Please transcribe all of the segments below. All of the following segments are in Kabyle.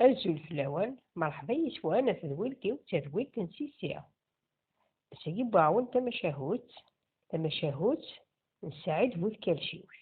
Azul fell-awen, merḥba yis-wen ɣef tedwilt-iw d tadwilt n Sisi. Ass-agi wwiɣ-awen tamacahut, tamacahut n Saɛid bu tkalciwt.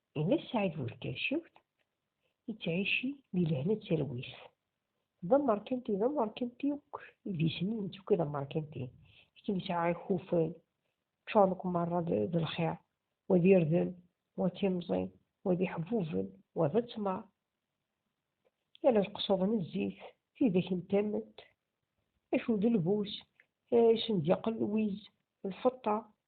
Ina Saɛid Bulkacewt yettɛici di lehna d talwit. D amerkanti d amerkanti akk idisnin n tukka d amerkanti. Akken yesɛa ikufan ččuren akk merra d lxir, wa d irden, wa d timẓin, wa d iḥbuben, wa d ttmer. Yal lqesud n zzit, tidak n tament, acu d lbus, isendiqel, lwiz, lfeṭṭa,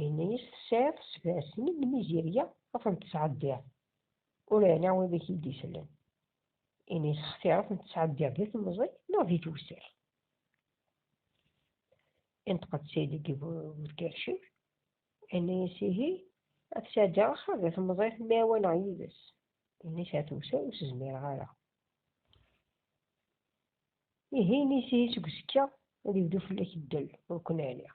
Yenna-yas tesɛiḍ sebɛa snin n mizirya ad tent-tesɛeddiḍ, ur ɛni wid i k-id-isellen, ini sextiṛ ad tent-tesɛeddiḍ di temẓi neɣ di tewser? Inṭeq-d Ssid deg Burkercir, yenna-yas ihi, ad sɛeddiɣ axir di temẓi temɛiwaneɣ yid-s, ini sɛa tewser ur s-zmireɣ ara. Ihi ini-as ihi seg uzekka ad yebdu fell-ak ddel ur ken-ɛliɣ.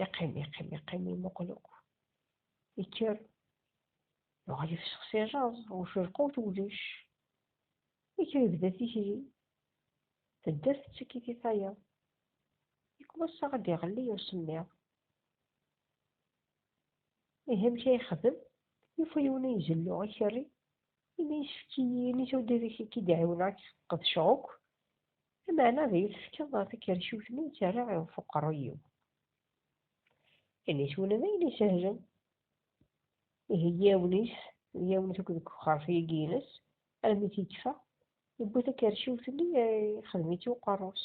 yeqqim yeqqim yeqqim yemuqel akk yekker yuɣal yefsex si jaẓ ucurqu twellic yekker yebda tikli tedder tettekit i tayeḍ yekkwas-aɣ ad d-iɣelli usemmiḍ ihi amek ay yexdem yufa yiwen ay izellu ikerri ini yessefk-iyi ini tudidik i k-id-ɛiwneɣ qedceɣ akk Lameɛna ad iyi-tefkeḍ takerciwt-nni i ttarraɣ iɣef uqerruy-iw. Initiwen d ayen isehlen. Ihi yiwen-is d yiwen-is akked deg uxerref-agi-ines, armi t-yettfa, yewwi takerciwt-nni, ixdem-itt i uqerru-s.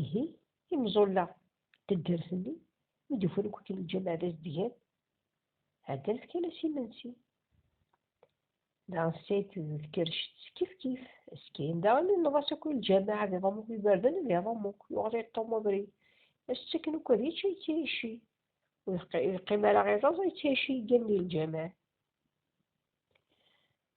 Ihi, imẓulla n taddart-nni, mi d-ufan akk akken lǧameɛ d azedgan, ɛeddan fkan-as imensi. Daɣen tesɛid tkerrect s kifkif, ass kan daɣen inneḍ-as akk i lǧameɛ ad iḍum akk iberdan, ad iḍum akk, yuɣal iṭṭum abrid, ad s-ttaken akk ad yečč, ad yettɛicci. Ur yeqqim ara iẓẓaẓ, ad yettɛicci yeggan di lǧameɛ.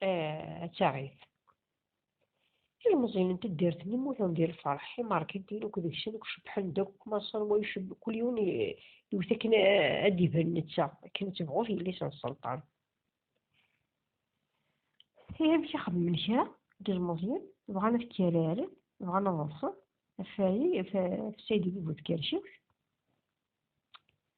eh, ad taɣit. Ilmeẓyen n taddart-nni mmuten di lferḥ, imarkitin akk deg-sen akk cebbḥen akk, maṣer wa iceb, kul yiwen iwet akken eh, ad d-iban netta, akken ad tebɣu yelli-s n sselṭan. Ihi amek i xedmen kra n yilmeẓyen, bɣan ad kkararen, bɣan ad ḍḍsen, ɣef Saɛid Ibn Tkerciwt,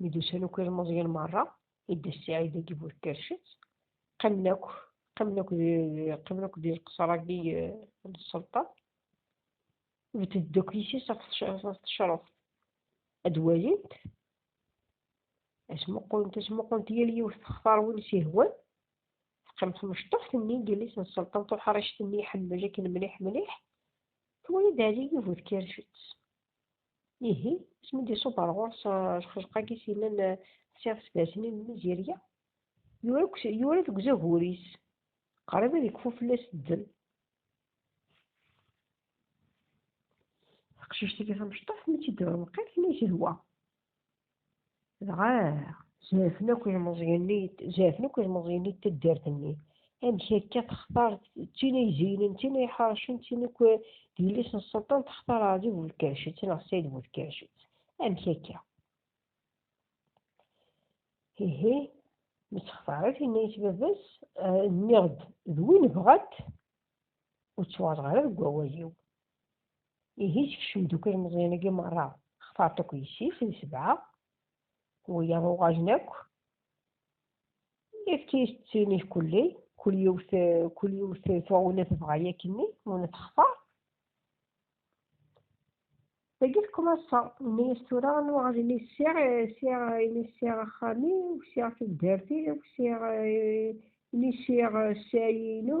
Mi d-usan akk ilmeẓyen merra, idda Ssaɛid agi bu tkercet, qqimen akk qqimen akk qqimen akk di lqesra-agi n sselṭan, bded akk yis-is ɣef tecruft, ad walint, ad smuqulent, ad smuqulent yal yiwet textar win s-ihwan, teqqim tmecṭuḥt-nni n yelli-s n sselṭan tuḥrict-nni iḥemmel akken mliḥ mliḥ, twala-d Ɛli bu tkercet. Ihi, asmi d-iṣubb ar ɣur-s lxelq-agi s yellan ḥsiɣ s bersin n Mizirya, yura deg uzagur-is, qrib ad ikfu fell-as ddel. Taqcict-agi tamecṭuḥt mi tt-id-tebra lqayet, yella yeshwa. dɣa jafen akk ilmeẓyen-nni jafen akk ilmeẓyen-nni taddart-nni amek akka textar tin ay zeynen tin ay ḥercen tin akk d yelli-s n sselṭan textar ɛadi bu tkercet neɣ sayid bu tkercet amek akka ihi mi tt-xtaret yenna-yas baba-s nniɣ-d d win bɣant ur ttwaɣreɣ ara deg wawal-iw ihi sekcem-d akk ilmeẓyen-agi merra xtaṛ-t akk yessi-s d sebɛa wiyaḍ uɣajen akk ifti-s d sin-ik kulli kul yiwet kul yiwet tuɣ win i tebɣa yakk-nni win i textaṛ dagi tekmaṣa yenna-yas tura anwa aɣajen i sɛiɣ sɛiɣ ini sɛiɣ axxam-iw sɛiɣ taddart-iw sɛiɣ ini sɛiɣ sɛayi-inu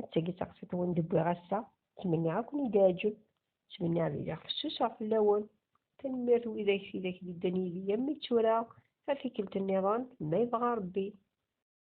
attagi taqsiḍt wen d-wwiɣ ass-a ttmenniɣ ad ken-id-iɛǧeb ttmenniɣ ad iliɣ fessuseɣ fell-awen tanemmirt widak tidak d-iddan yid-i am mi d tura ar tikkelt nniḍen ma yebɣa Rebbi